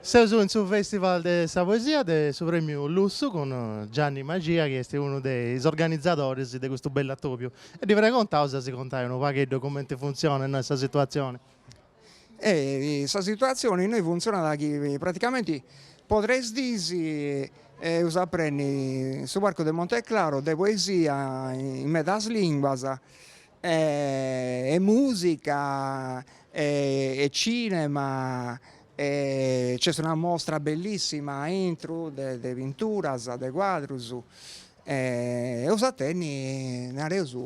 Seus in su Festival de sa Poesia de su Prèmiu Lussu cun Gianni Maxia chi est unu de is organizadoris de custu bellu atòbiu e ddi pregontaus de si contai unu pagheddu cumenti funtzionat innoi sa situatzioni. Sa situatzioni innoi funtzionat chi praticamenti po tres dis eus a prenni su Parcu de Monteclaro de poesia in medas limbas e musica e cinema e nc'est una mostra bellissima aintru de pinturas de cuadrus e eus a tenni nareus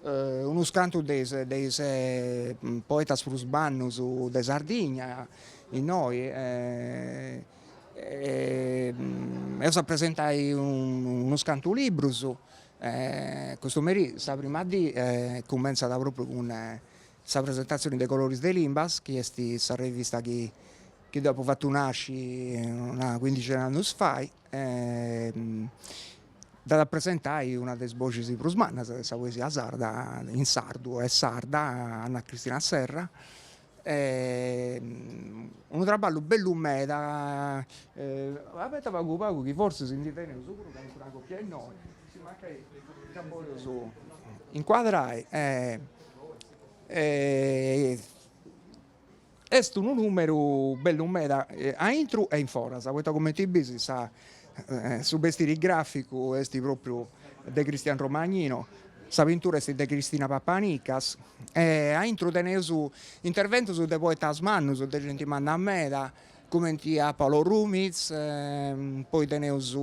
unus cantus de is de is poetas prus mannus de Sardigna innoi eus a presentai unus cantu librus Custu merì sa prima dì cumentzat propriu cun sa presentatzioni de Coloris de Limbas chi est sa revista chi chi deu apo fatu nasci una cuindixi de annus fai e dd'at a presentai una de is boxis prus mannas de sa poesia sarda in sardu e sarda Anna Cristina Serra unu traballu bellu meda abeta pagu pagu chi forsis si ndi teneus puru calincuna copia innoi si mancai dda boleus incuadrai est unu numeru bellu meda aintru e in foras poita cumenti bis sa Su bestiri gràficu est pròpriu de Cristian Romagnino, sa pintura est de Cristina Papanicas e a intro teneus interventus de poetas mannus, de genti manna meda, cumenti a Paolo Rumiz, poi teneus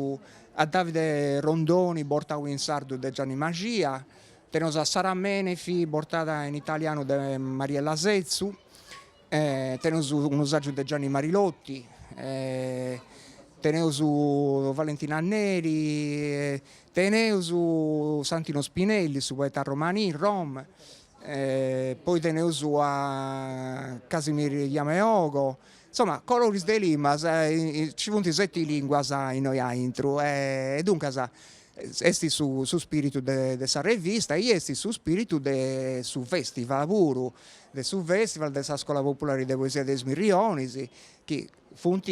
a Davide Rondoni bortau in sardu de Gianni Maxia, teneus a Sarah Menefee bortada in italianu de Mariella Setzu, Teneus unu sàgiu de Gianni Marilotti, teneus Valentina Neri, teneus Santino Spinelli, su poeta romani, rom. Poi teneus a Casimir Yameogo, insoma coloris de limbas, nci funt seti lìnguas innoi aintru e duncas Est su su spiritu de de sa revista e est su spiritu de su festival puru, de su festival de sa scola populari de poesia de is Mirrionis chi funt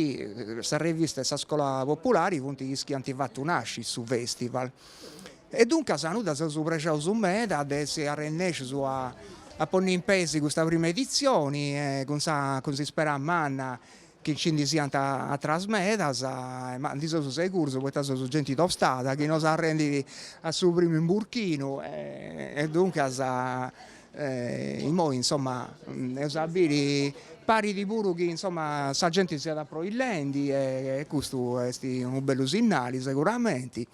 sa revista e sa scola populari funt is chi ant fatu nasci su festival e duncas nosu ndi seus prexaus meda de essi arrennèscius a a ponni in pesi custa prima editzioni cun sa cun s'ispera manna chi nci ndi siant atras medas, ma ndi seus seguros poita seus genti tostada chi no s'arrendit a su primu imburchinu e duncas immoi insoma eus a biri, parit puru chi insoma sa genti siat aproillendi e custu est unu bellu sinnali seguramenti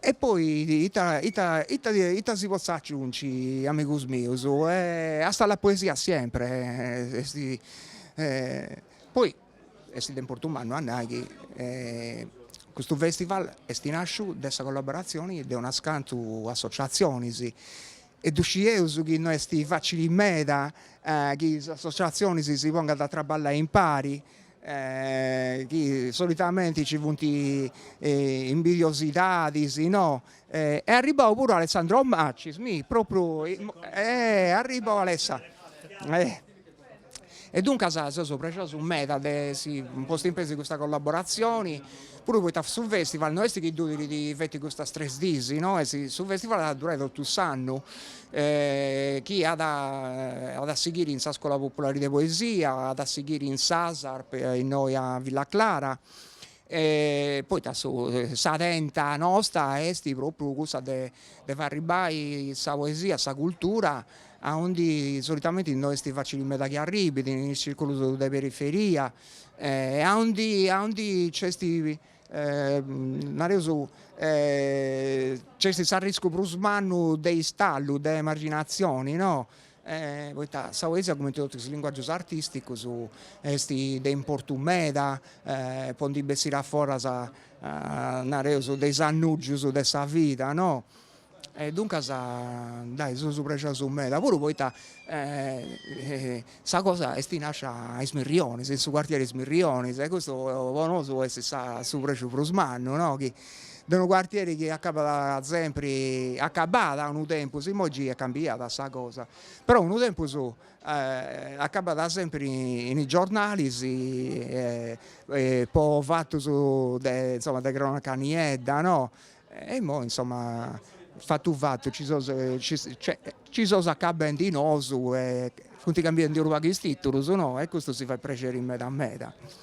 E poi ita ita ita ita si potzat aciunci amigus mius, hasta la poesia siempre e poi est de importu mannu a nai chi custu festival est nàsciu de sa collaboratzioni de unas cantu associatzionis e ddu scieus chi no est facili meda chi is associazionis si pongant a traballai impari, chi solitamenti nci funt imbidiosidadis, no, est arribau puru Alessandro Macis, mi, propriu, est arribau Alessa E duncas seus prexosus meda de si postu in peis custa collaboratzioni, puru poita su festival no est chi durit feti custas tres diis, no est, su festival at a durai totu s'annu chi at at a sighiri in sa Scola Populari de Poesia, at a sighiri in s'ASARP innoi a Villa Clara Poita sa tenta nosta est propriu cussa de fai arribai sa poesia, sa cultura a undi solitamente no est facili meda chi arribit, in is circulus de periferia e a undi a undi nc'est nareus nc'est s'arriscu prus mannu de istallu, de emarginatzioni no poita sa poesia cumenti totu is linguagius artisticus esti de importu meda po ndi bessiri aforas nareus de is annugius de sa vida no e duncas dai seus prexosus meda puru poita sa cosa esti nascia a Is Mirrionis in su quartieri Is Mirrionis e custu po nosu esti sa su prexu prus mannu no chi de unu quartieri chi acabat sempri, acabàt unu tempus, imoi giai est cambiada sa cosa, però unu tempus acabàt sempri in is giornalis po fatus de insoma de cronaca niedda no, e imoi insoma fatu fatu ci seus cioè ci seus acabendi nosu e funt cambiendi unu pagu is titulus no, e custu si fait prexeri meda meda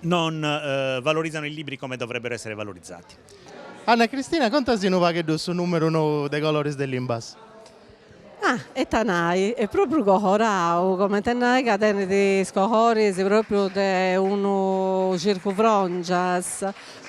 Non valorizzano i libri come dovrebbero essere valorizzati. Anna Cristina contasi unu pagheddu su numeru nou de Coloris de Limbas. Ah, e ita nai, est propriu cohorau, comente a nai ca tenit is cohoris propriu de unu circufrongias,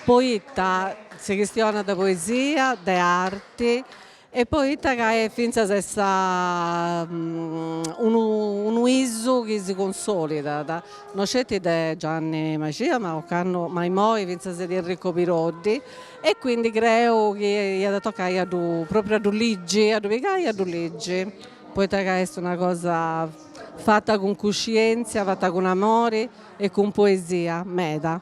poita si chistionat de poesia, de arti E poita ca est fintzas essa unu unu usu chi si cunsolidat, no sceti de Gianni Mascia ma ocannu ma immoi fintzas de Enrico Piroddi e quindi creu chi iat a toccai a ddu propriu a ddu ligi, a ddu pigai e a ddu ligi, poita ca est una cosa fata cun cuscientzia, fata cun amori e cun poesia meda.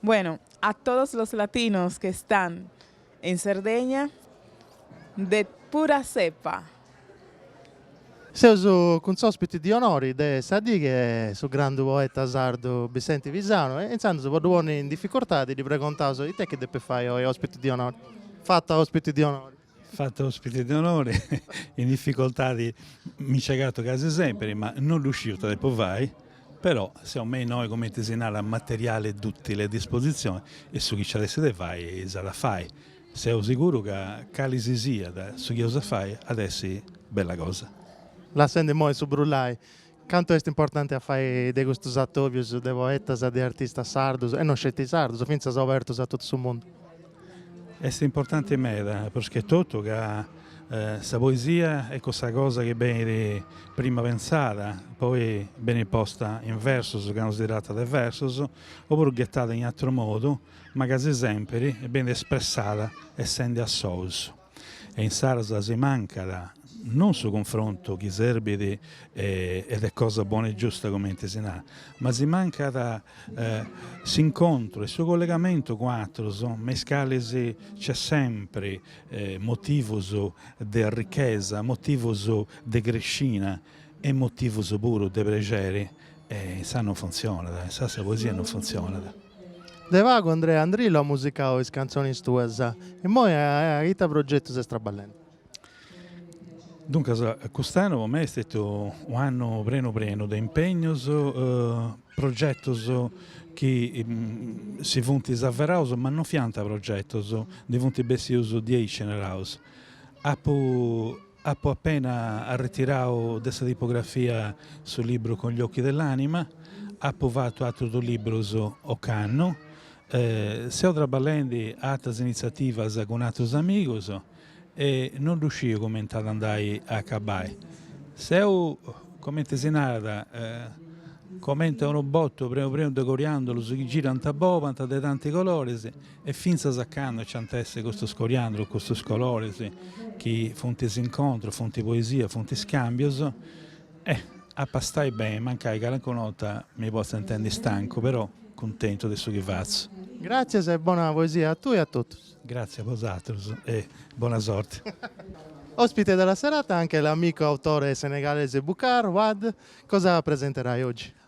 Bueno, a todos los latinos que están en Sardegna, de pura cepa. Seus cun s'òspiti de onori de sa die, su grandu poeta sardu Bessenti Pisanu, e insandus po ddu ponni in dificultadi ddi pregontaus ita chi depit fai oi òspiti de onori, fatu òspiti de onori? Fatu ospite de onore, in dificoltadi mi nci agatu casi sempiri, ma no ddu sciu ita depu fai, però seu me innoi, cumenti si narat, materiale duttile a disposizioni e su chi nci at essi de fai s'at a fai. Seu siguru ca cali si siat su chi eus a fai at essi bella cosa. Lassendi immoi su brullai, Cantu est importanti a fai de custus atòbius de poetas e de artistas sardus, e no sceti sardus, fintzas obertus a totu su mundu? Est importanti meda, prus che totu ca sa poesia est cussa cosa chi benit prima pentzada, poi benit posta in versus, candu si tratat de versus, opuru ghetada in atru modu, ma casi sèmpiri benit espressada essendi a sous. e insaras si mancat non su cunfrontu chi serbit ed è cosa buona e giusta cumenti si narat, ma si mancat s'incontru e su collegamentu cun atrus me is calis nc'est sempri motivus de arrichesa, motivus de crescina e motivus puru de prexeri e insaras non funtzionat, insaras sa poesia non funtzionat. De pagu Andrea Andrillo at musicau is cantzonis tuas, immoi a ita progetus est traballendi? Duncas cust'annu po mei est stetiu u' annu prenu prenu de impegnus, progetus chi si funt averaus ma non fiant progetus, ndi funt bessius diaici naraus, apu Apu apena arretirau de sa tipografia su libru Con gli occhi dell'anima, apu fatu atrus duus librus ocannu, seu traballendi a atras initziativas cun atrus amigus e non ddu sciu cumenti at andai a acabai. Seu, comenti si narat, comenti a unu botu prenu prenu de coriandolus chi girant e bolant de tanti coloris E fintzas a cando nc'ant a essi custus coriàndulus, custus coloris, chi funt s'incontrus, funt poesia, funt iscambius? Eh! Apu a stai beni, mancai calincuna 'orta mi potzu intendi stancu, però cuntentu de su chi fatzu. Gràtzias e bona poesia a tui e a totus. Gràtzias a bosatrus e bona sorti. Òspite de la serata anche l'amico autore senegalese Boucar Wade. Cosa presenterai oggi?